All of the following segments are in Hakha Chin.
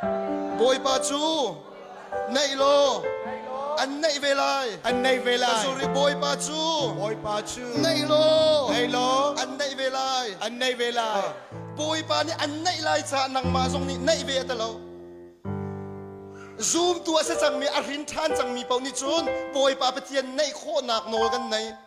Bawipa cu neih law an neih ve lai. An neih ve lai. Sorry, Bawipa cu Bawipa cu neih law neih law an neih ve lai. an neih ve lai. Bawipa nih an neih lai caah nangmah zong nih neih ve a ti lo. Zumtu a si cangmi, a hrin ṭhan cangmi paoh nih cun Bawipa Pathian neih khawhnak nawl kan nei.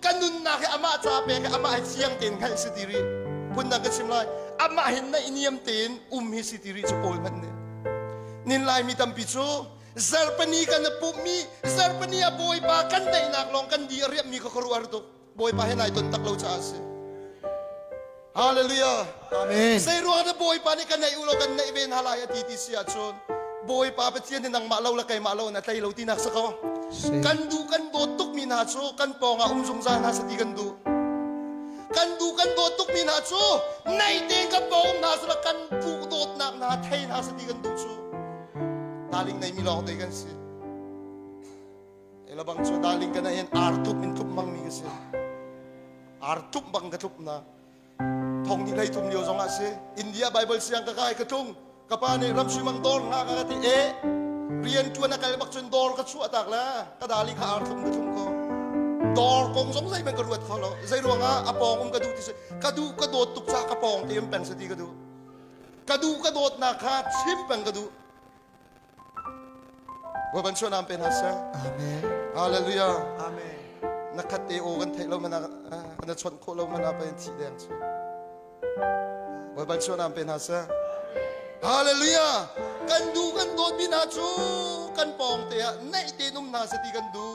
ka nunnak hi amah ca pek i amah hi fiang tein hngalh si ti rih phundang ka chim lai amah hin na i niam tein um hi si ti rih cu paul hmanh nih nin laimi tampi cu zarpani kan a pumhmi zarpani a bawipa kan daihnak lawng kan di a riammi kha khuaruah tuk bawipa he nai ton tak lo caah a si Hallelujah. Amen. Zeiruang ah Bawipa nih ka neih u law kan neih ve hna lai a ti ti si ahcun Bawipa Pathian nih nangmah lo le keimah lo in a tlei lo tinak si ko. Kan duh kan dawt tukmi hna cu kan pawngah um zungzal hna sati kan duh. Kan duh kan dawt tukmi hna cu nei tein kan pawng um hna sila kan duh dawtnak hna thei hna sati kan duh cu. Taling neimi lawng te kan si. Elabang cu daling kana hin ar thup in thup bang mi ka si. Ar thup bang ka thup na. Thong ni hlei thum lio zong ah si. India Bible siang ka kai ka thung. Ka pa nih ram suimang dor nga ka ka ti e. Rian tuan a kal bak cun dor ka chuah tak la. Ka daling ka ar thum ka thum ko. Dor kong zong zei man ka ruat kho lo. Zei ruang ah a pong um ka duh ti si. Ka duh ka dawt tuk ca ka pong te um peng sa ti ka duh. Ka duh ka dawt na kha chim peng ka duh. Voi van chuah nam pe hna seh. Amen. Hallelujah. Amen. Na khat te o kan theih lo mana na chawnh khawh lo mana pa in thi deng chu. Voi van chuah nam pe hna seh. Hallelujah. Kan du kan dawt mi hna cu kan pawng te ah neih te num hna se ti kan du.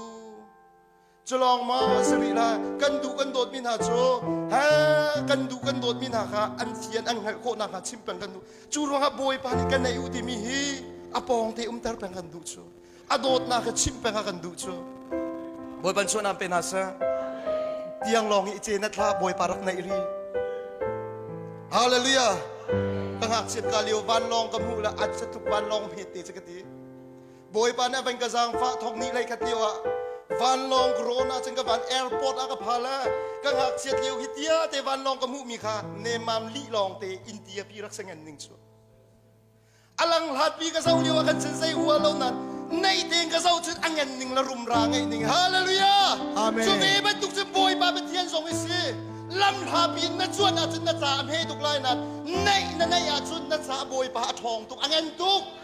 culawngmang an si rih lai kan duh kan dawtmi hna cu he kan duh kan dawtmi hna kha an fian an hngalh khawh nakhnga chim peng kan duh cu ruangah bawipa nih ka neih u timi hi a pawng te umter peng kan duh cu a dawtnak kha chim peng kan duh cu bawipa chuahnan pe hna sah tiang lawng hi ce na thla bawipa rak neih ri hallelujah ka ngakchiat ka lio vanlawng ka hmuh la at satuk vanlawng hmete che ka ti Bawipa nih a van ka zaangfah thawk ni lei khat lio ah vanlawng ka rawn ah cun ka van airport ah ka phal ah ka ngakchiat lio hi tia te vanlawng ka hmuh mi kha nemam lih lawng te in tia pi rak sengen ning chu a lang hlat pi ka zo lio ah kan chan sei hua lo nan nei tein ka zo chun angen ning la rum ra ngai ning hallelujah Amen. chu ve bantuk cun bawipa pathian zong hi si lam hla pi na chuan ah cun na ca a hme tuk lai nan neih na neih ah cun na ca bawipa a ṭhawng tuk angen tuk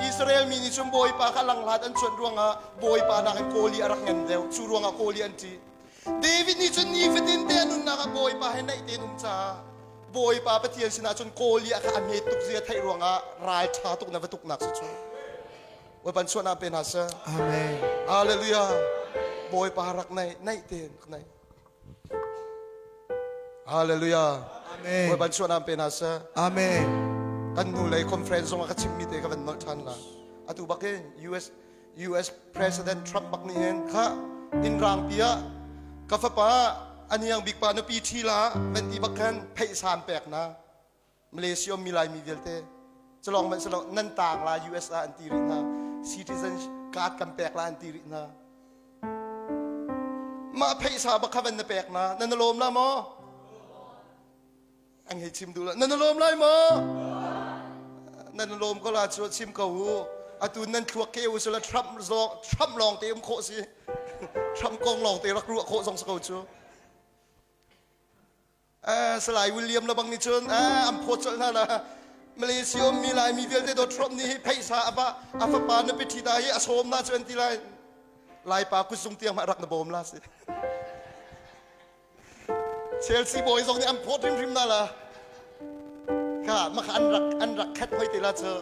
Israel mi nih cun Bawipa kha langhlat an cuanh ruangah Bawipa nakin kawl i a rak ngan deuh. Cu ruangah kawl i an ṭih. David nih cun nifatinte a nunnak ah Bawipa he naih tein um caah Bawipa Pathian sinah cun kawl i a kha a hmet tuk zia theih ruangah ralṭha tuk na va tuknak cu cu Bawipa chuahnak pe hna seh. Amen. Hallelujah. Bawipa rak naih, naih tein rak naih. Hallelujah. Amen. Bawipa suanam pe hna seh. Amen. Kan nu lei conference zong ah ka chimmi te ka van nolh than la. Atu bak in US US President Trump bak nih hin kha in rang pi ah ka fapa aniang bik pa na pi thi la van ti bak khan phei sam pek na Malaysia mi Laimi vialte calong man salong nan taang la US ah an ti rih hna citizen card kan pek la an ti rih hna mah phaisa bakha van na pek na nan lawm la maw an hei chim duh la nan lawm lai maw nan lawm ko la chu chim ko hu atu nan thluak ke u sula trump zong trump lawng te um khawh si trump kong lawng te rak ruah khawh zong so ko chu Salai William lebang nih cun an phawt colh hna la Malaysia ummi Laimi vialte dawt Trump nih hi pheisa a fa a fapa na piṭhi ta hi a sawm na cu an ti lai Laipa kutzung tiang ma rak na bawm la si Chelsea bawi zong nih an phawt hrimhrim na la kha maka an rak an rak khat hoi te la cu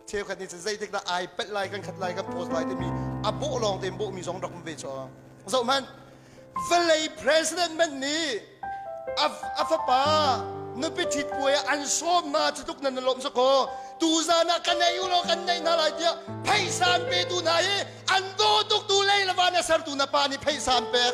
cheukhat nih cun zeitikdah ai pelh lai kan khat lai kan post lai timi a bawh lawng tein bawhmi zong rak um ve cu zoh hmanh vawlei presidentman nih a fapa nupi ṭhit puai ah an sawm hna cu tluk nan lawm sakaw tuzan ah kan nei u law kan nei hna lai tiah pheisa an petu hna hi an daw tuktu lei le van a sertu na pa nih pheisa an pek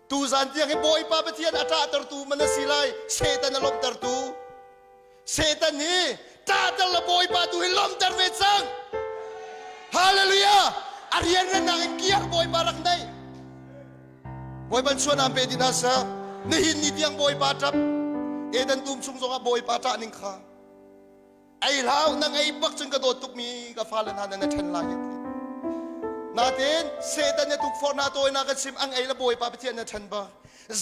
Tuzan tiang hi Bawipa Pathian a ṭahtertu man a si lai, Satan a lawmhtertu. Satan hi ṭahter le Bawipa tu hi lawmhter ve cang. Hallelujah! A rianrannang in kiar Bawipa rak neih. Bawipa chuan aan pe dih hna sa, nihin ni tiang Bawipa ṭap, Eden tum chung zongah Bawipa ṭah ning kha. ei hlau na ngei bak cun ka dawt tukmi ka fale hna nan ṭhen lai hi natin setan ne tukforh na tawinak a chim ang ei la bawipa pathian na ṭhen ba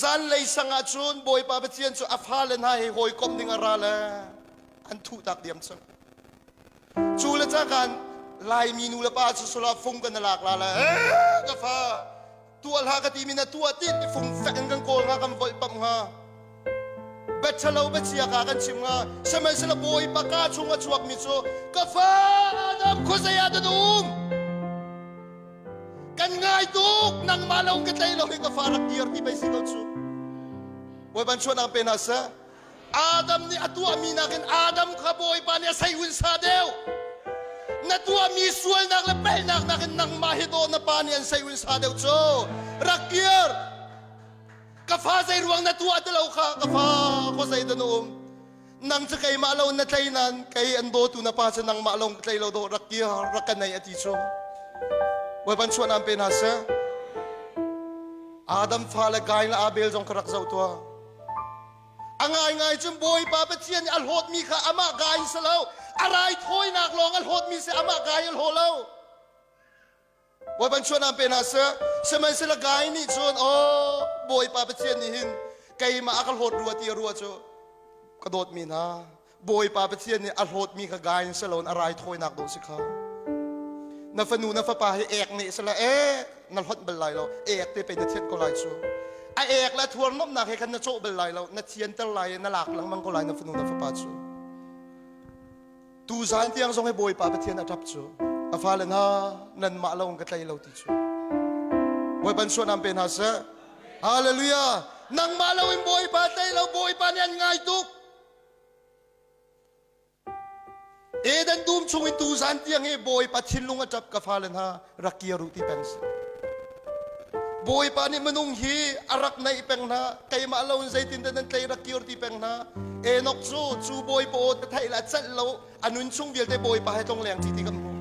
zanlei sang ah cun bawipa pathian cu a fale hna he hawikom ding a ra le an thuh tak diam cu cu le cakan laimi nu le pa cu sula fung kan na lak la le ka fa tuah hlah ka timi na tuah ti fumfek in kan kawl nga kan volh pamh nga bachalo bachia ka kan chim nga samaisala bawipa ka chung a chuak mi cu ka fa adam khuzaya da um kan ngai tuk nangmah lo ka tlei lo hi ka fa rak dir ti bai si ko cu voi ban chuan ang pe na sa Adam nih a tuahmi nakin Adam kha Bawipa nih a seihunsa deuh. Na tuahmi sualnak le pelnak nakin nangmah hi daw na pa nih an seihunsa deuh cu. Rak kir. Ka fa zeiruang na tuah ti lo kha ka fa khua zei da na um. Nang cu keimah lo na tlei nain kei an dawtu na pa cu nangmah lo ka tlei lo daw rak kir rak ka nei a ti cu. Bawipa chuan aan pe hna seh. Adam fale gai le Abel zong ka rak zoh tuah. A ngaingai cun Bawipa Pathian nih a hlawtmi kha amah gai si lo, a raithawinak lawng a hlawtmi si amah gai a hlaw lo. Bawi ban chuanam pe hna seh, sihmanhsehla gai nih cun, aw Bawipa Pathian nih hin keimah a ka hlawt rua ti a rua cu ka dawtmi hna, Bawipa Pathian nih a hlawtmi kha gai in si loin a raithawinak dawh si kha. Na fanu na fapa hi ek ne sila ek na hlonh bal lai lo ek te pe na thianh ko lai cu. A ek le thuarnomnak he khan na cawh bal lai lo na thianter lai i na lak lengmang ko lai na fanu na fapa cu. Tu zan tiang zong hi Bawipa Pathian a ṭap cu. A fale hna nanmah lawng ka tlei lo ti cu. Bawi ban suanam pe hna seh. Hallelujah. Nangmah loin Bawipa tlei lo Bawipa nih an ngai tuk. Eden dum chung i tuzan tiang hi Bawipa thinlung a ṭap ka fale hna rak kir u ti peng sih. Bawipa nih minung hi a rak naih peng hna keimah lo in zeitin dah nan tlei rak kir ti peng hna Enok cu cu Bawipa aw te theih la celh lo a nun chung vialte Bawipa he tlong leng ṭi ti kan hmu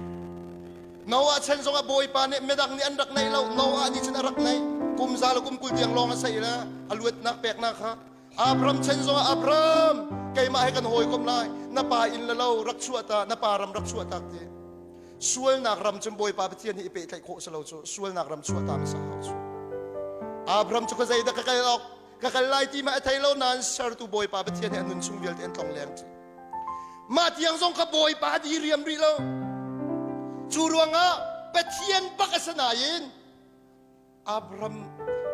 Noah chan zongah Bawipa nih midang nih an rak naih lo Noah nih cun a rak naih kum za le kum kul tiang lawng a sei la a luatnak peknak kha Abram chan zongah Abram keimah he kan hawikom lai na pa inn le lo rak chuah ta na pa ram rak chuah tak ti sualnak ram cun Bawipa Pathian nih i pehtlaih khawh si lo cu sualnak ram chuah ta hmasa hau cu Abram cu ka zeidah ka kal awk ka kal lai ti mah a thei lo nain sertu Bawipa Pathian nih a nun chung vialte an tlong leng ṭi mah tiang zong ka Bawipa a diriam rih lo cu ruangah Pathian bak a si nain Abraham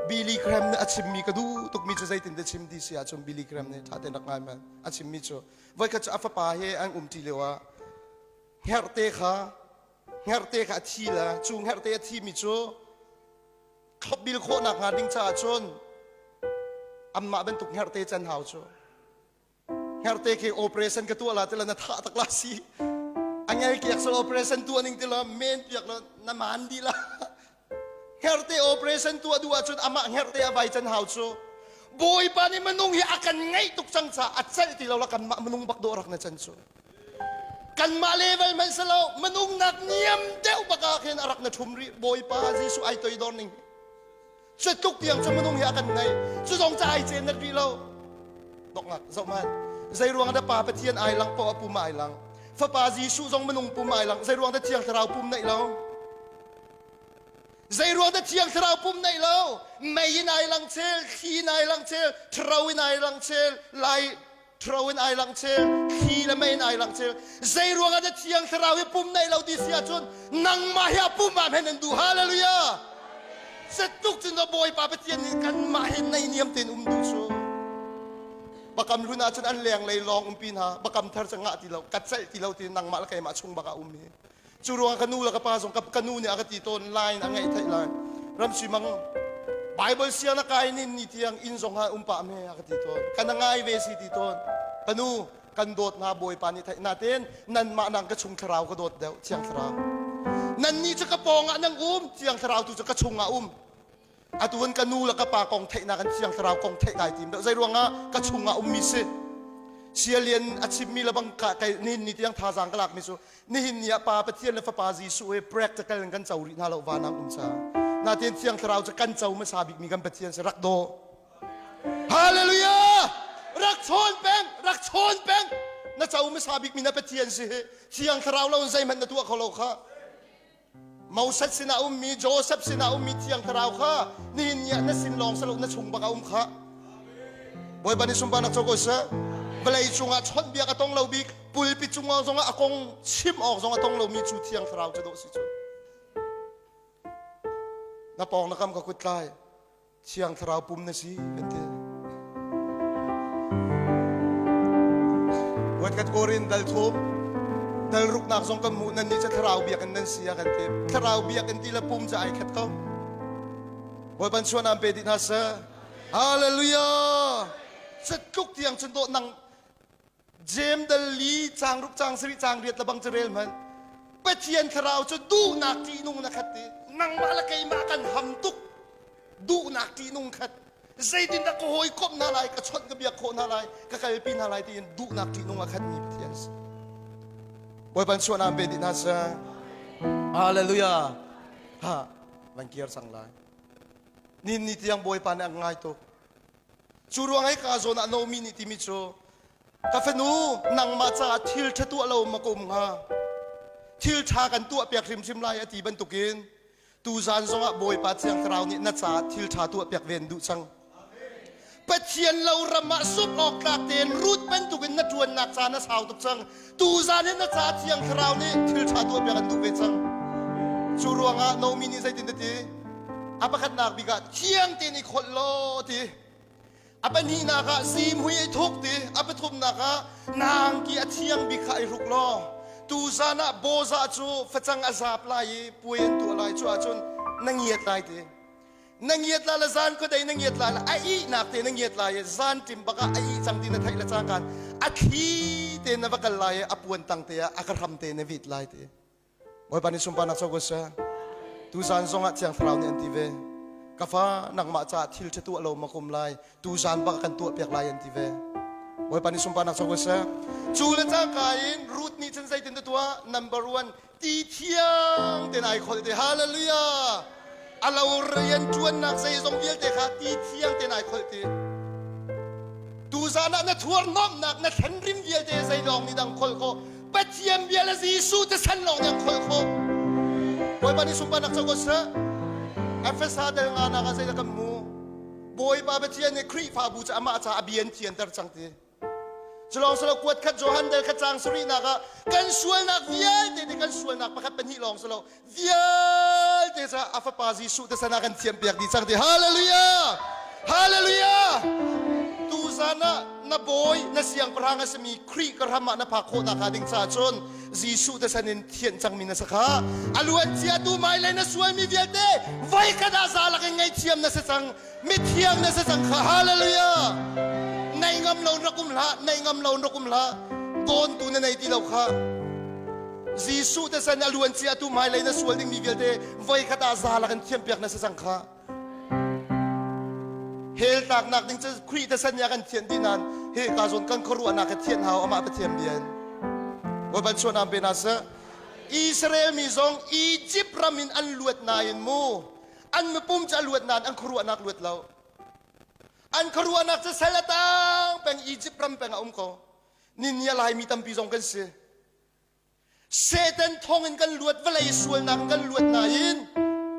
Billy Graham nih a chimmi ka duh tukmi cu zeitin te chim ti si ahcun Billy Graham nih ṭha tein rak ngai ma a chimmi cu voikhat cu a fapa he an umṭi lio ah herhte kha herhte kha a thi la cu herhte a thimi cu bil khawh nakhnga ding caah cun anmah bantuk herhte can hau cu Herte ke operation ka tua la ti la na tha tak la si. Angel ke sal operation tua ning ti la men piak la na man di la. Herte operation tua du ah chun ama herte avai chan hau chu. Bawipa ni manung hi akan ngai tuk chang cha atchal ti lo la kan ma manung bak do rak na chan chu. Kan ma level man sa lo manung nak niam deu baka khen arak na thum ri bawipa Jesu ai toi dor ning. Cuat tluk tiang cu minung hi a kan ngeih. Cu zong ca ai ceen nat rih lo. Dongak zohman. Zei ruang ah da pa Pathian ai lang paoh a pum ai lang. Fapa Jesuh zong minung pum ai lang. Zei ruang da Thiang Thlarau pum neih lo. Zei ruang da Thiang Thlarau pum neih lo. Mei in ai lang cel, thli in ai lang cel, thro in ai lang cel, lai Ṭhro in ai langcheu, thli le mei in ai langcheu. Zeiruang ah dah Thiang Thlarau hi pum neih lo ti si ahcun nangmah hi a pum ah hmenh nan duh. Hallelujah! Setuk cun Bawipa Pathian nih kanmah he neihniam tein um duh cu. Bakam hlun ahcun an lenglei lawng umpi hna. Bakam thar cu ngah ti lo, kat celh ti lo ti nangmah le keimah chung bak ah um hi. Cu ruangah ka nu le ka pa zong ka nu nih a ka ti tawn lai in a ngaih theih lai. Ramsui Mang Bible sia na kai nin ni tiang inn zong ah um pah me a ka ti tawn. Ka na ngai ve si ti tawn. Ka nu kan dawt na bawipa nih theih na ten nanmah nang ka chung thlarau ka dawt deuh thiang thlarau. Nanni cu ka pawng ah nang um thiang thlarau tu cu ka chung ah um. atu hin ka nu le ka pa kong theihnak an thiang thlarau kong theih kai tim deuh zei ruangah ka chungah ummi si sialian a chimmi le bang ka kai ni ni tiang thazaang ka lakmi cu nihin ni ah pa pathian le fapa jesuh he practical in kan co rih hna lo van ang um sa natin thiang thlarau cu kan co hmasa bikmi kan pathian si rak do hallelujah rak chawn peng rak chawn peng na co hmasa bikmi na pathian si hi thiang thlarau lo in zeihmanh na tuah kho lo kha Moses sinah a ummi Josef sinah a ummi thiang thlarau kha nihin ni ah na sin lawng si lo na chung bak a um kha bawipa nih sunparnak co ko seh vawlei cungah chawnhbiak a tong lo bik pulpi cungah zongah a kong chim awk zong a tong lomi cu thiang thlarau cu dawh si cu na pawng na kam ka kut tlai Thiang Thlarau pum na si kan ti. Voitkhat kor in dal thum dal ruknak zong kan hmuh nan nih cu thlarau biak in nan sia kan ti. Thlarau biak in ti le pum cu ai khat ko. Bawi ban chuan am pe ti hna sir. Hallelujah. Set tluk tiang chun dawh nang Jem dal li cang rup cang sari cang riat labang cerel man Pathian thlarau cu duhnak ṭihnung na khat i nangmah le keimah kan ham tuk duhnak ṭihnung khat zeitin dah ka hawi komh hna lai ka chawnh ka biak khawh hna lai ka kalpi hna lai tiin duhnak ṭihnung a khatmi Pathian si Bawipan suan aan pe dih hna sa Hallelujah ha van kir sang lai nin ni tiang Bawipa nih a ngai tuk Cu ruang i ka zawn ah nomi nih timi cu ka fanu nangmah caah thil ṭha tuah lo ma kom hnga thil ṭha kan tuah piak hrimhrim lai a ti bantukin tuzan zongah Bawipa Thiang Thlarau nih na caah thil ṭha tuah piak ve an duh cang Pathian lo ram ah suk awk tlak tein rut bantukin na ṭuannak caan a sau tuk cang Tuzan hin na caah Thiang Thlarau nih thilṭha tuahpiak an duh ve cang. Cu ruangah Nomi nih zeitin a ti? A pakhatnak bik ah thiang tein i kholh law ti. A pahnihnak ah simhui i thuk ti. A pathumnak ah nangki a thiang bik kha i hruk law tuzan ah boza cu facang a zap lai i puai an tuah lai cu ahcun na ngiat lai ti. na ngiat la la zan kua dei na ngiat la la a ihnak te na ngiat la i zan ṭim bak ah a ih cang ti na theih le cangkan a thli te na va kal lai i a puan tang te ah a ka hram te na vit lai te bawipa ni sumpanak cho ko sa tu zan zong ah thiang thlarau nih an ti ve ka fa nangmah caah thil ṭha tuah lo makum lai tu zan bak kan tuah piak lai an ti ve bawipa ni sumpanak cho ko sa cu le cangka in root nih chan zeitin te tuah number one ti thiang tein ai khol te hallelujah a lo rian ṭuannak zeizong vialte kha ti thiang tein ai kholh ti tu zan ah na thuarnomnak na thlen rim vialte zeidong nih dang khol khawh pathian bia le jesuh te san lawng nih khol khawh bawipa nih sunpa nak co ko seh efesa del nga nak ah zeidah kan mu bawipa pathian nih khrihfabu cu amah ca a bian cianter cang ti Culawng salo kuat khat Johan dal kha cang sarihnak ah kan sualnak vialte te kan sualnak pakhat pahnih lawng salo vialte ca a fapa Jesuh te sana kan thiam piak dih cang ti hallelujah hallelujah tu zan ah na bawi na siangpahrang a sami Khrih ka ram ah na phak khawh nakhnga ding ca cun Jesuh te san in thianh cangmi na sakha a luancia tu mai le na sualmi vialte voi khat ah zalak in ngaithiam na si cang mithiang na si cang kha hallelujah nei ngam lo rak um hlah nei ngam lo rak um hlah tawntu na nei ti lo kha Jesuh te san a luan cia tu mai lei na sual ding mi vialte voi khat a za la kan thiam piak na si cang kha hel tak nak ding cu khui te san ya kan thian ti nan he ka zon kan khorua na ka thian hao ama pathiam bian voi ban chuan am pe na sa Israel mi zong Egypt ram in an luat na in mu an mipum cu a luat nain an khuaruahnak luat lo an khuaruahnak cu sal a tang peng Egypt ram peng a um ko ninia laimi tampi zong kan si Satan thong in kan luat vawlei sualnak in kan luat nain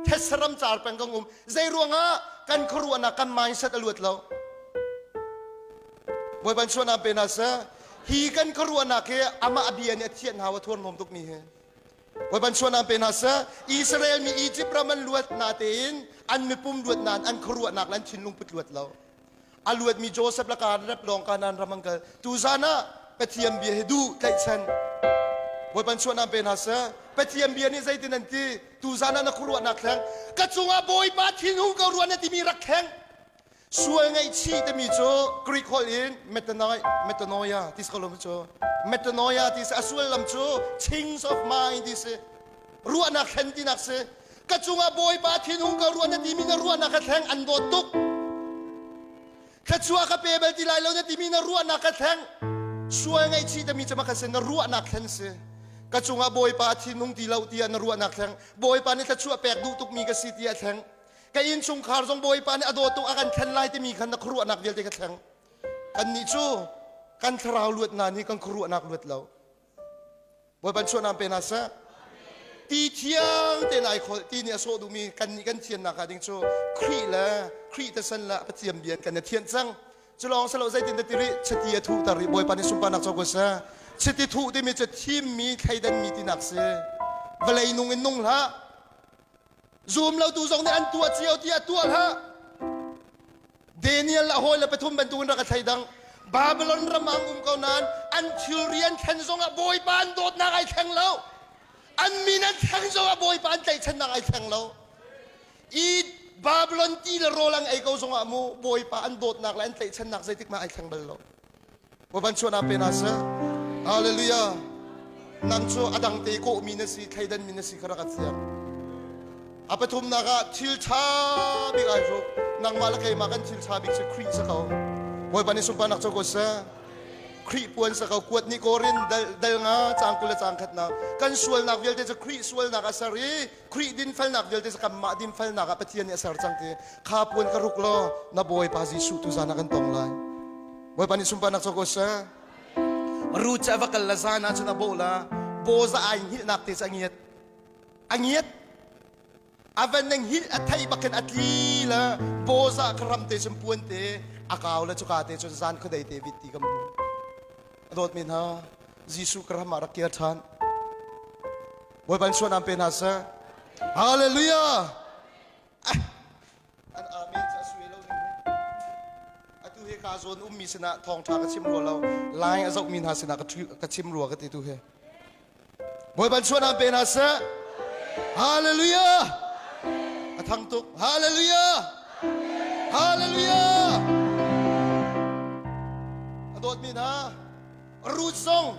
thetsaram car peng kan um zei ruangah kan khuaruahnak kan mindset a luat lo bawi ban chuan ah pe na sa hi kan khuaruahnak hi amah bia nih a thianh hau a thuar hnawm tuk mi hi Voi ban suanam pe hna seh, Israel mi Egypt ram an luat natein an mipum luat nan an khuaruahnak le an thinlung put luat lo. A luatmi Joseph laka rep lawng ka nan ram an kal. Tuzan ah Pathian bia hi duh tlaihchan. Voi ban suanam pe hna seh, Pathian bia nih zeitin an ti? Tuzan ah na khuaruahnak thleng, ka cungah Bawipa thinhung ko rua na timi rak kheng. Sual ngaihchih timi cu Greek holh in metanoia ti kho cu metanoia ti si. A sullam cu things of mind ti si. Ruahnak thlen tinak si. Ka cungah Bawipa thinhung ka ruah na timi na ruahnak ka thleng an dawt tuk. Thluachuah ka pe bal ti lai lo na timi na ruahnak ka thleng. Sual ngaihchih tami cama ka si na ruahnak thlen si. Ka cungah Bawipa a thinhung ti lo tiah na ruahnak thleng. Bawipa nih thluachuah pek duh tukmi ka si tiah thleng. ka innchungkhar zong bawipa nih a dawtu a kan thlen lai timi khan na khuaruahnak vialte ka thleng kannih cu kan thlarau luat hna nih kan khuaruahnak luat lo bawipa chuahnaam pe hna seh ti thiang tein ai kholh ti nih a sawh duhmi kannih kan thian nakah ding cu Khrih le Khrih te san le Pathian bian kan i thianh cang cu lawng selo zeitin dah tiri chati a thuhter i bawipa nih sunparnak co ko seh chiti thuh timi cu thimmi thleidanmi tinak si vawlei nung in nung hlah Zum lotu zong nih an tuah cio tiah tuah hlah. Daniel a hawi le pathum bantuk in rak a thleidang. Babylon ram ah an um ko nain an thilri an thlen zong ah Bawipa an dawtnak ai thleng lo. An min an thleng zong ah Bawipa an tlaihchannak ai thleng lo. I Babylon ti le rawl ang ei ko zong ah mu Bawipa an dawtnak le an tlaihchannak zeitik mah ai thleng bal lo. Va van chuan ah pe hna seh. Hallelujah. Nang cu a dang te kawhmi na si, thleidanmi na si kha rak ka siang. A pathumnak ah thil ṭha bik ai hru. Nangmah le keimah kan thil ṭha bik si Khrih sa ko. Bawipa nih sunparnak co ko seh. Khrih puan sa ko kuat ni korin dal, dal nga cang kul le cang khat na kan sualnak vialte cu Khrih sualnak a ser i Khrih dinfelnak vialte kanmah dinfelnak ah Pathian nih a ser cang ti kha puan ka ruk law na Bawipa Jesuh tu zan ah kan tong lai. Bawipa nih sunparnak cu ko seh. Ruth cu a va kal la zan ah cun a bawh la Boza ai hngilhnak te cu a ngiat. A ngiat. A van nang hil a thei bakin a tli la Boza kha ram te cun puan te a kau la cuka te cun zan khuadei te vit ti kan hmu. A dawt men ha Jesuh ka ram ah rak kir ṭhan. Bawi van suanam pe hna seh. Hallelujah! An amen cu a sue lo ning he. Atu he ka zawn ummi sinah thawngṭha ka chim rua lo. Lai a zohmi hna sinah ka ṭhu- ka chim rua ka ti tu he. Bawi van suanam pe hna seh. Hallelujah! A thang tuk. Hallelujah! Hallelujah! A dawtmi hna, Ruth zong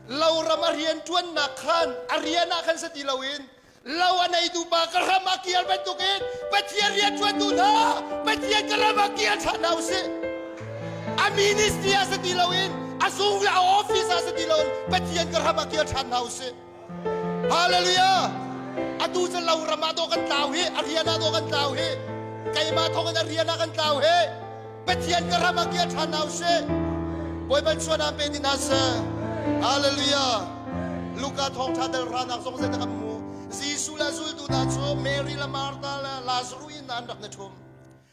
loram a rian ṭuannak khan a rian ah khan si ti loin lo a neitu pa ka hram a kial bantukin Pathian rianṭuantu hna Pathian ka ram ah kial ṭhan hna u sih. A ministry ah si ti loin a sung a office ah si ti loin Pathian ka ram ah kial ṭhan hna u sih. Hallelujah! Atu cu loram ah daw kan tlau hi, a rian ah daw kan tlau hi, keimah thawngin a rian ah kan tlau hi, Pathian ka ram ah kia ṭhan hna usih. Bawiban chuan ah pe ni hna seh. Hallelujah! Luka thawngṭha dal ranak zong zeidah kan hmu. Jesuh le zultu hna cu Mary le Martha le Lazarus in an rak ni ṭhum.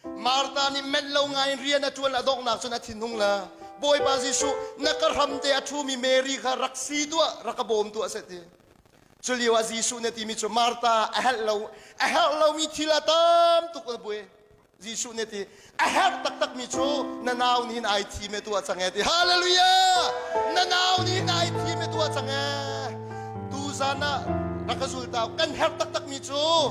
Martha nih menh lo ngaiin rian a ṭuan a donghnak cun a thinhung la. Bawipa Jesuh, na ka hramte a ṭhumi Mary kha rak si tuah, rak ka bawm tuah seh ti. Culio ah Jesuh nih a timi cu Martha a herh lo, a herh lomi thil a tam tuk a buai. Jesuh nih a ti, a herh taktakmi cu na nau nih hin ai thim e tuah cang e ti. Hallelujah! Na nau nih hin ai thim e tuah cang e. Tuzan ah rak ka zultau, kan herh taktakmi cu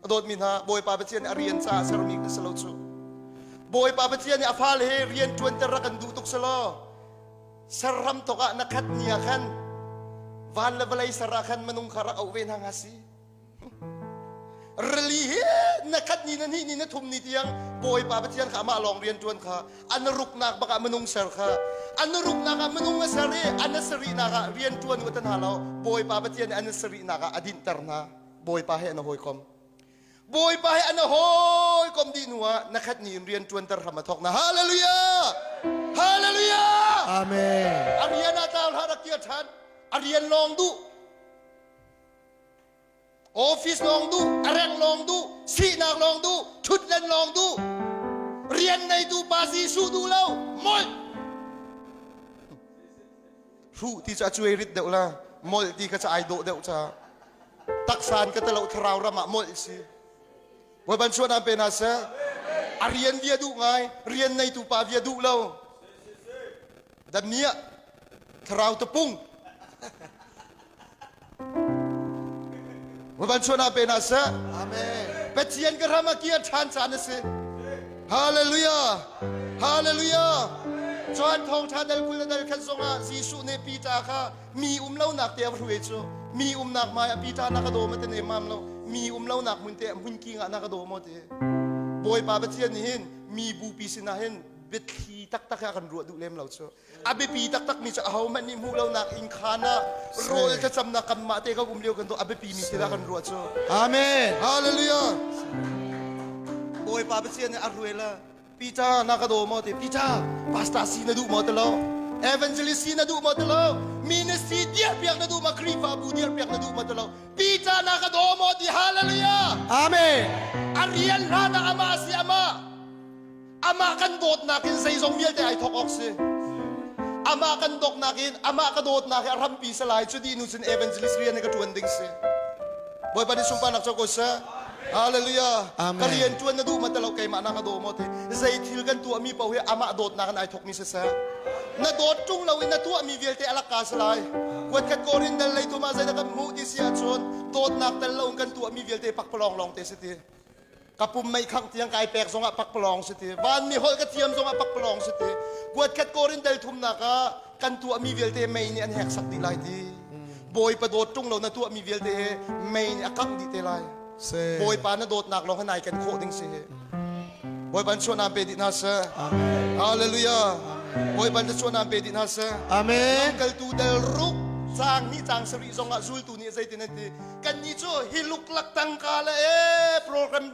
a dawtmi hna bawipa pathian nih a rian caah sermi ka si lo cu bawipa pathian nih a fale he rian ṭuanter rak kan duh tuk si law ser ram tok ah na khat ni ah khan van le vawlei ser ah khan minung kha rak auh ve hna nga si rili hi na khat ni na ni ni na thum ni tiang bawipa pathian kha amah lawng rian ṭuan kha an ruknak bakah minung ser kha an ruknak ah minung a ser i an a sarihnak ah rian ṭuan watan hna lo bawipa pathian nih an a sarihnak ah a dinhter hna Bawipa he na hawikom Bawipa he ana hawikom dih hnu ah na khat ni in rian tuan ter hram a thok na hallelujah hallelujah amen a rian a tar hla rak tia than a rian long du office long du a reng long du sinak long du thutlen long du rian nei tu pa si su du lo mol hruh ti cu a cuai rit deuh la molh ti kha ca ai dawh deuh ca taksa in ka talo thlarau ram ah molh si voi ban chuan pe hna seh a rian via duh ngai rian neitu pa via duh lo dan nia thlarau tapung Va van chuan ah pe hna seh. Pathian ka ram a kir ṭhan caan a si. Hallelujah. Hallelujah. Cun thawngṭha dal kul le dal khat zongah Jesuh nih Peter kha mi um lonak te a va hrue cu. Mi umnak mai a Peter na ka dawm te ne mam lo. Mi um lonak mun te mun ki nga na ka dawm te. Bawipa Pathian nih hin mi bupi sinah hin biathli taktak a kan ruah duh lem lo cu. a biapi taktakmi cu ahohmanh nih hmuh lonak inkhaan ah rawl thlacamnak kanmah te kan um lio kan tuah a biapimi thil ah kan ruah cu amen hallelujah bawipa pathian nih a ruela Peter na ka daw maw te Peter pastor si na duh maw te lo evangelist si na duh maw te lo ministry dir piak na duh maw khrihfabu dir piak na duh maw te lo Peter na ka daw maw ti hallelujah amen a rian hlan ah amah si amah Amah kan dawtnak in zeizong vialte ai thawk awk si. Amah kan dawtnak in amah ka dawtnak hi a hrampi sa lai cu dinu cun evangelist rian hi ka ṭuan ding si. Bawipa nih sunparnak cu ko seh. Hallelujah. Amen. Ka rian ṭuan na duh ma tilo keimah na ka daw maw ti. Zei thil kan tuahmi paoh hi amah dawtnak in ai thawkmi siseh. Na dawt ṭung lo in na tuahmi vialte a lakka si lai. Kuatkhat Korin dal lei tu ma zei dah kan hmuh ti si ahcun dawtnak tel lo in kan tuahmi vialte pak palawng lawng te si ti. ka pum meikhangh tiang kai pek zongah pakpalawng si ti vanmi holh ka thiam zongah pakpalawng si ti kuatkhat korin del thumnak ah kan tuahmi vialte mei nih an hek sak dih lai ti bawipa dawt ṭung lo na tuahmi vialte mei nih a kangh dih te lai bawipa na dawtnak lawng nai kan khawh ding si hi bawipa chuan am pe dih hna seh hallelujah bawipa na chuan am pe dih hna seh amen lamkaltu del ruk cang ni cang sarih zongah zultu nih zeitin an ti kannih cu hi luklak tangka le e program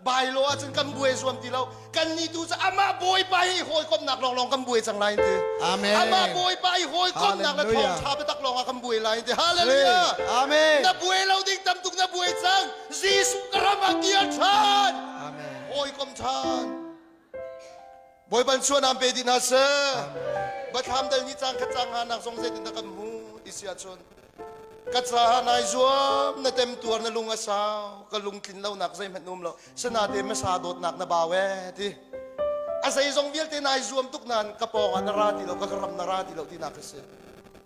bailo ahcun kan buai zuam ti lo kannih tu cu amah bawipa hi hawikomhnak lawnglawng kan buai cang lai in ti amen amah bawipa hi hawikomhnak le thawngtha biatak lawngah kan buai lai in ti hallelujah amen na buai lo ding tam tuk na buai cang jesuh ka ram ah kir than amen hawikom than Bawiban suanam pe dih hna seh. Bathlam dal ni cang khat cang hanak zong zeitin dah kan hmu ti si ahcun ka ca ha nai zuam na tem tuar na lung a sau ka lungtlin lo nak zeihmanh um lo sinate masa dawtnak na bau e ti a zeizong vialte nai zuam tuk nan ka pawng ah na ra ti lo ka ram na ra ti lo ti nak ka si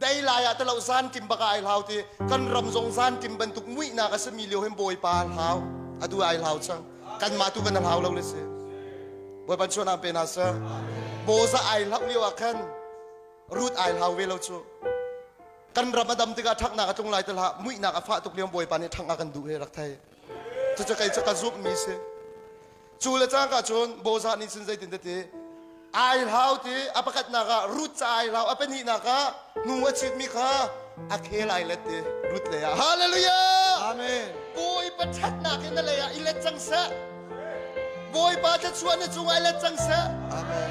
dei lai ah talo zankim baka ai hlau ti kan ram zong zankim bantuk muihnak a sami lio hin bawipa al hlau adu ai hlau chang kan mah tu kan al hlau lo le si bawi ban chuan pe na sa boza ai hlau lio ah khan rut ai hlau ve lo chu kan ram adam tika thak na ka tlung lai tala muihnak a fa tuk liam bawipa nih thak a kan duh he rak thai chu chu kai chu ka zup mi si Cu le cang cun Bozah nih cun zeitin tete ai hlau ti a pakatnak ah rut ca ai hlau a pahnihnak ah hnu a chitmi kha a khel ai let ti rut lei ah hallelujah amen bawipa ṭhatnak in na lei ah i let cang seh bawipa thluachuah na cung ai let cang seh amen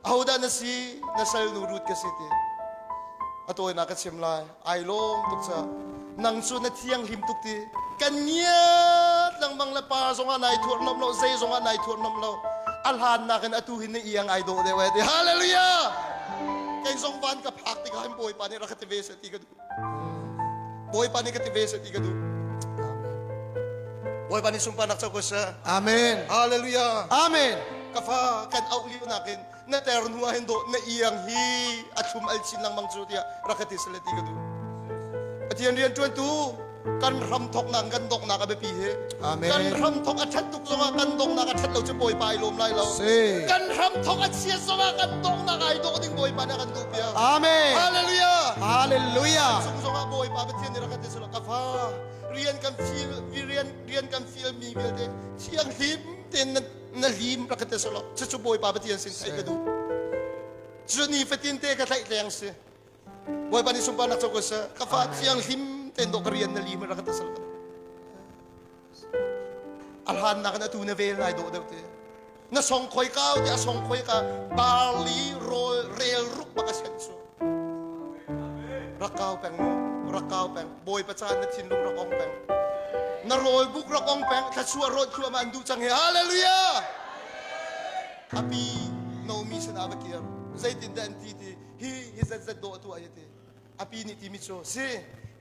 ahodah na si na salnu rut ka si ti a tawinak ka chim lai ai lawm tuk ca nang cu na thianghlim tuk ti kan ngiat lengmang le pa zongah nai thuar nom lo zei zongah nai thuar nom lo a hlan nakin atu hin na iang ai dawh deuh ai ti hallelujah kei zong van ka phak tikah hin bawipa nih rak ka ti ve se ti ka duh Bawipa nih ka ti ve ti ka duh. Bawipa nih sunparnak co ko seh. Amen. Hallelujah. Amen. Ka fa kan auh lio nakin na ter hnu ah hin dawh na iang hi a thlum al chin lengmang cu tiah rak ka ti sale ti ka duh. Pathian rian ṭuantu kan hram thawknak kan donghnak a biapi hi Amen. kan hram thawk a that tuk zongah kan donghnak a that lo cu bawipa i lawm lai lo kan hram thawk a chia zongah kan donghnak ai dawh ding bawipa nih a kan duh piak amen hallelujah hallelujah chung zongah bawipa pathian nih rak kan ti sula ka fa rian kan feel rian rian kan feel mi vialte thianghlim tein na lim rak kan ti sula cucu bawipa pathian sin ai ka duh cu ni fatin te ka tlaih leng si Bawipa nih sunparnak cu ka sa ka fa thiang hlim tein dawh ka rian na li ma rak ka tasal ka a hlan nak in atu na vel nai dawh deuh te na song khoi ka ti a song khoi ka barli rol rel ruk baka sen su rakau peng rakau peng boi paca na thinlung rak ong peng na rol buk rak ong peng thlasua rot khua ma an du chang he hallelujah api nomi sana bakir zeitin da an ti ti hi hi zetzet dawh atu ai ti api nih timi cu si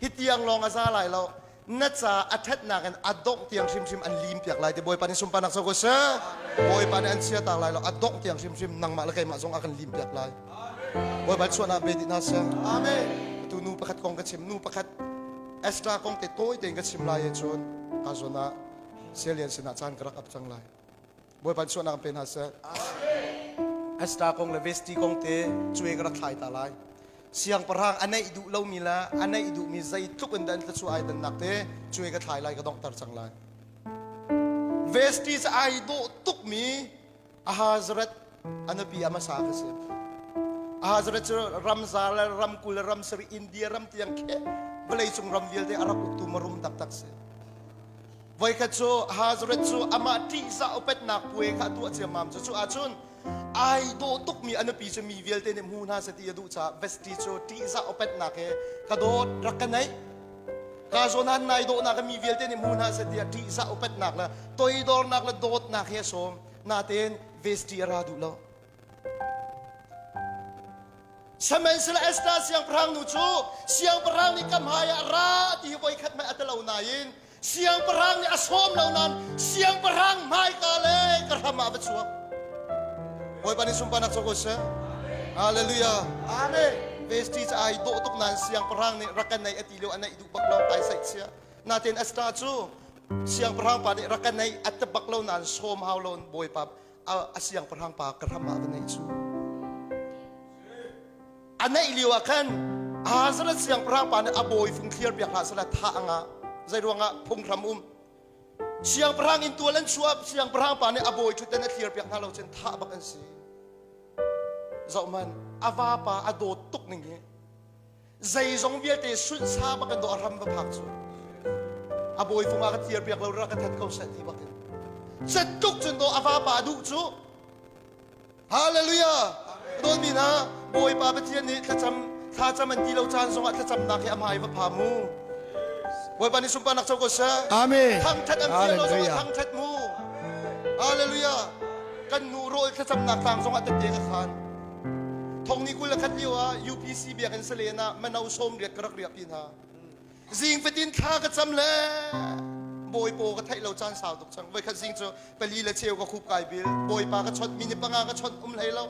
hi tiang lawng a za lai lo na ca a ṭhatnak in a dongh tiang hrimhrim an lim piak lai ti bawipa nih sunparnak sa ko seh bawipa nih an chia tak lai lo a dongh tiang hrimhrim nangmah le keimah zong a kan lim piak lai bawipa chuahnak pe dih na seh amen tu nu pakhat kong ka chim nu pakhat extra kong te tawi tein ka chim lai e cun a zon ah sialian sinah caan ka rak ap cang lai Bawipa chuahnak pe hna seh. Esther kong le Vesti kong te cuai ka rak thlai ta lai. Siangpahrang a neih duh lomi le a neih duhmi zeitluk in dah an thluachuah ai dannak te cuai ka thlai lai ka donghter cang lai. Vesti cu ai dawh tukmi Ahazereth a nupi a hmasa ka si. Ahazereth cu ramza le ramkul le ramsarih India ram tiang kheh vawleicung ram vialte a rak uktu marum taktak si. Voikhat cu Hazareth cu amah ṭihzah upatnak puai kha a tuah ciammam. Cucu ahcun ai dawh tukmi a nupi cu mi vialte nih hmu hna seh ti a duh caah Vesti cu ṭihzah upatnak he ka dawt rak ka neih. Ka zawn nai dawhnak mi vialte nih hmu hna seh tiah ṭihzah upatnak le toidornak le dawtnak he a sawm. Natein Vesti a ra duh lo. Samensela Esther siangpahrang nu cu siangpahrang nih ka hmai ah ra ti hi voikhat mei a ti lo nain siangpahrang nih a sawm lo nain siangpahrang hmaika le ka ram ah a va chuak. Bawipa nih sunparnak cu ko seh. Hallelujah. Amen. Vesti cu ai dawh tuk nain siangpahrang nih rak kan neih a ti lio a neih duh bak lo kai saih chia. Natin Esther cu siangpahrang pa nih rak kan neih a tep bak lo nain sawm hau lo Bawipa a siangpahrang pa ka hram ah ka neih cu a neih lio ah khan Hazareth siangpahrang pa nih a bawi fung thliar piak hlah sala tha anga zei ruangah phunghram um siangpahrang in tual an chuah siangpahrang pa nih a bawi thuten a thliar piak hna lo cun tha bak an si zoh man a vapa a dawt tuk ning hi zeizong vialte sunsa bak in do a ram va phak cu a bawi vung a ka tiar piak lo ra ka that ko seh ti bak in set tuk cun do a va pa duh cu hallelujah dol mi na bawipa pathian nih thlacam thlacam an ti lo caan zongah thlacamnak hi a hmai va pha mu bawipa nih sunparnak co ko sa amen thangthat an thiam lo zongah thangthat mu hallelujah kan nu rawl thlacamnak tang zongah tete ka khan Thongni kul le khat lio ah UPC biakinn salen ah mano sawm riat ka rak riak pi hna. Zing fatin thla ka cam le bawi paw ka theih lo caan sau tuk chang. Voi khat zing cu pali le cheu ka khup kai bil. Bawipa ka chawt, minute panga ka chawt um hlei lo.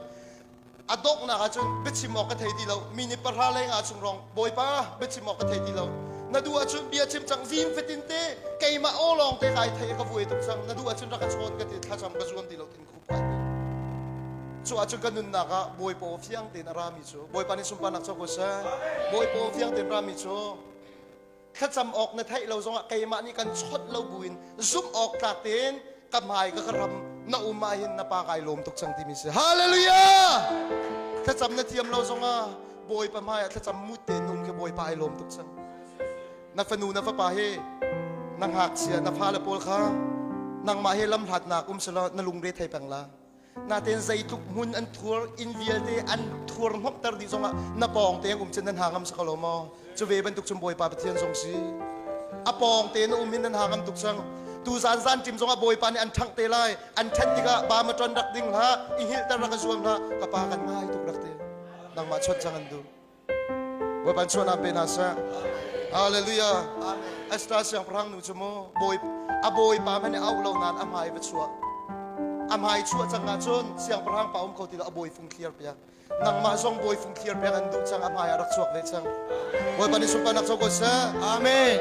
A donghnak ah cun biachim awk ka thei ti lo. Minute pahra leng ah chung rong bawipa biachim awk ka thei ti lo. Na du ah cun bia chim cang zim fatin te keimah o lawng te kai thei ka vuai tuk chang. Na du ah cun rak ka chawn ka ti thlacam ka zuam ti lo tin upat cu ahcun kan nunnak ah bawipa fiang tein a rami cu bawipa nih sunparnak cu ko seh bawipa fiang tein rami cu thlacam awk na theih lo zongah keimah nih kan chawt lo buin zumh awk tlak tein ka hmai ka ka ram na um ah hin na pa kai lawm tuk cang timi si hallelujah thlacam na thiam lo zongah bawipa hmai ah thlacam mut tein nun khi bawipa ai lawm tuk cang na fanu na fapa he na ngakchia na fale pawl kha nangmah he lamhlatnak um selaw na lungre thei peng la natein zeitluk hmun an thuar inn vialte an thuar hnokter dih zongah na pawng te um cun nan ha ngam sakalo maw cu ve bantuk cum bawipa pathian zong si a pawng te na um hin nan ha ngam tuk sang tu zan zan tim zongah bawipa nih an ṭhangh te lai an ṭhen tikah bamaton rak ding hla i hilter rak kan zuam hla ka pa kan ngai tuk rak te nangmah chawt chang an duh Bawipa chuahnak pe hna seh. Hallelujah. Esther siangpahrang nu cu mu bawi a bawipa hmanh nih auh lo nain a hmai va chuah. A hmai chuah cang ahcun siangpahrang pa um kho ti lo a bawi fung thliar piak. Nangmah zong bawi fung thliar piak an duh cang a hmai ah rak chuak ve cang. Bawipa nih sunparnak co ko seh. Amen.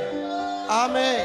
Amen.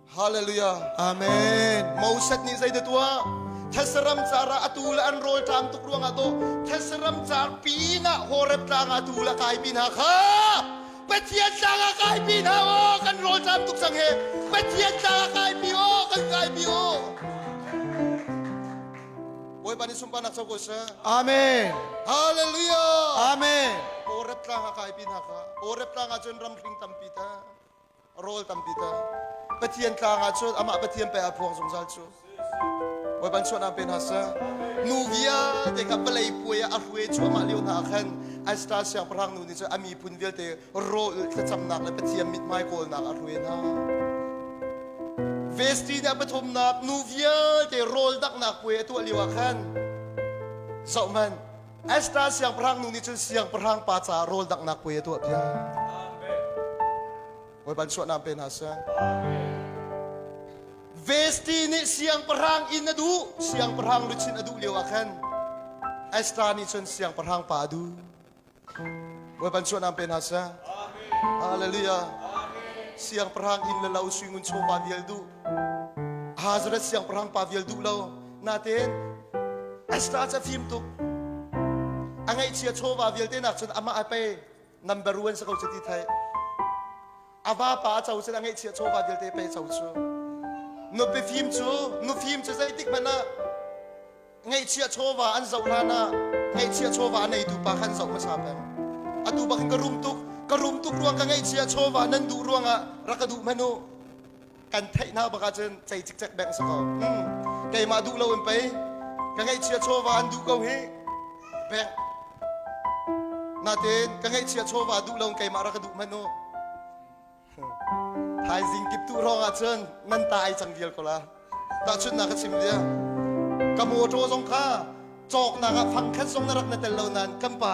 Hallelujah. Amen. Moses nih zei da tuah? Thasaram car ah atu le an rawl ṭaang tuk ruangah to thasaram car ping ah Horeb tlang ah atu le kaipi hna kha Pathian tlang ah kaipi hna o kan rawl ṭaang tuk sang he Pathian tlang ah kaipi o kan kaipi o Bawipa nih sunparnak co ko seh Amen. Hallelujah Amen. Horeb tlang ah kaipi hna kha Horeb tlang ah cun ramhring tampi ta rawl tampi ta Pathian tlang ah cun amah Pathian pei aa phuang zungzal cu Bawipa chuahnak pe hna seh nu vialte kha palei puai ah a hruai cuahmah lio hna ah khan an star siangpahrang nu nih cun a miphun vialte rawl thlacamnak le Pathian mithmai kawlnak a hruai hna vesti nih a pathumnak nu vialte rawl daknak puai a tuah lio ah khan zoh hmanh Esther siangpahrang nu nih cun siangpahrang pa caah rawl danghnak puai a tuah piak. Bawi ban suanam pe hna seh. Vesti nih siangpahrang inn a duh, siangpahrang luchin a duh lio ah khan Esther nih cun siangpahrang pa a duh. Bawi ban suanam pe hna seh. Hallelujah. Siangpahrang inn le lo suingun chaw pa vial duh. Hazrat siangpahrang pa vial duh lo. natein extra cu a fim tuk a ngaihchia chawva vialte nak cun amah a pe number one sa ko cu ti thei a vapa a co cun a ngaihchia chawva vialte pe co cu nupi fim cu nu fim cu zeitik hmanh ah ngaihchia chawva an zoh hlan ah ngaihchia chawva a neitu pa khan zoh hmasa peng atu bak in ka rum tuk ka rum tuk ruang ka ngaihchia chawva nan duh ruang ah rak ka duh hmanu kan theih hna bak ahcun cei cikcek bengh si ko hmm. keimah duh lo in pei ka ngeihchia chawva an duh ko hi bengh natin ka ngeihchia chawva duh lo in keimah ra ka duh hmanh u thaizing kip tu rong ahcun nan ta ai cang vial ko la tahchun na ka chim dia ka motor zong kha cawknak ah fang khan song na rak na tel lo nan kan pa